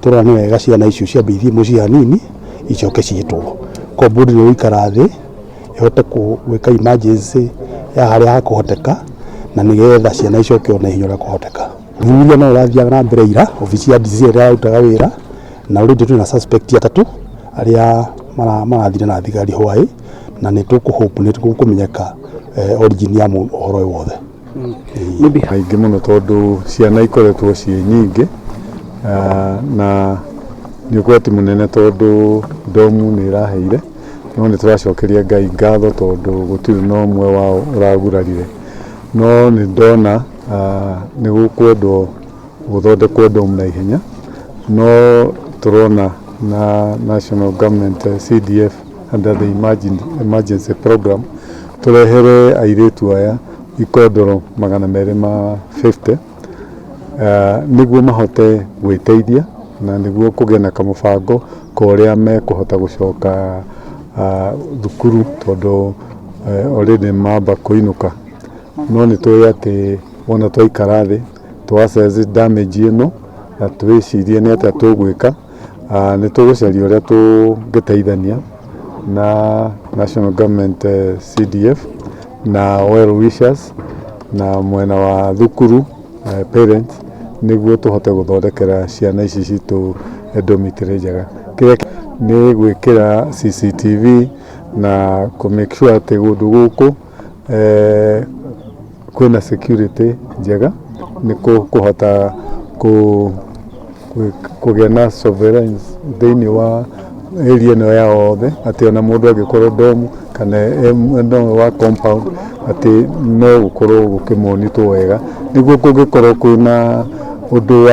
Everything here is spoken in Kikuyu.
tũrona nĩ wega ciana icio ciambe ithiĩ mũciĩ hanini icoke ciĩtwo. Compound nĩ ĩgũikara thĩ ĩhote gwĩka emergency ya harĩa hakũhoteka na nĩ getha ciana icoke o na ihenya ũrĩa kwahoteka. Ũthuthuria no ũrathiaga na mbere ira, obici ya DC ĩrĩa yarutaga wĩra na already twĩna suspect atatũ arĩa marathire na thigari hwaĩ na nĩ tũkũ hope nĩ gũkũmenyeka origin ya ũhoro ũyũ wothe. kaingĩ mũno tondũ ciana ikoretwo ciĩ nyingĩ ah, na nĩ ũgwati mũnene tondũ ndomu nĩ ĩraheire no nĩ tũracokeria ngai ngatho tondũ gũtirĩ na ũmwe wao ũragurarire no nĩ ndona ah, nĩ gũkwendwo gũthondekwo ndomu na ihenya no tũrona na national government eh, cdf under the emergen- emergency program tũrehere airĩtu aya ikondoro magana merĩ ma 50 Ah, nĩguo mahote gwĩteithia na nĩguo kũgĩa na kamũbango ka ũrĩa mekũhota gũcoka ah, thukuru tondũ eh, already mamba kũinũka no nĩ tũĩ atĩ wona twaikara thĩ twacenji damage ĩno na twĩcirie nĩ atĩa tũgwĩka ah, nĩ tũgũcaria ũrĩa tũngĩteithania na National Government eh, CDF na well wishers na mwena wa thukuru eh, parents nĩguo tũhote gũthondekera ciana ici citũ eh, dormitory njega kĩrĩa kĩ- nĩ gwĩkĩra CCTV na kũ make sure atĩ kũndũ gũkũ eh, kwĩna security njega nĩ kũ- kũhota kũ- kũ- kũgĩa na sovereigns thĩinĩ wa area ĩno ya othe atĩ ona mũndũ angĩkorwo domu kana em- no wa compound atĩ no gũkorwo gũkĩmonitwo wega nĩguo kũngĩkorwo kwĩna ũndũ wa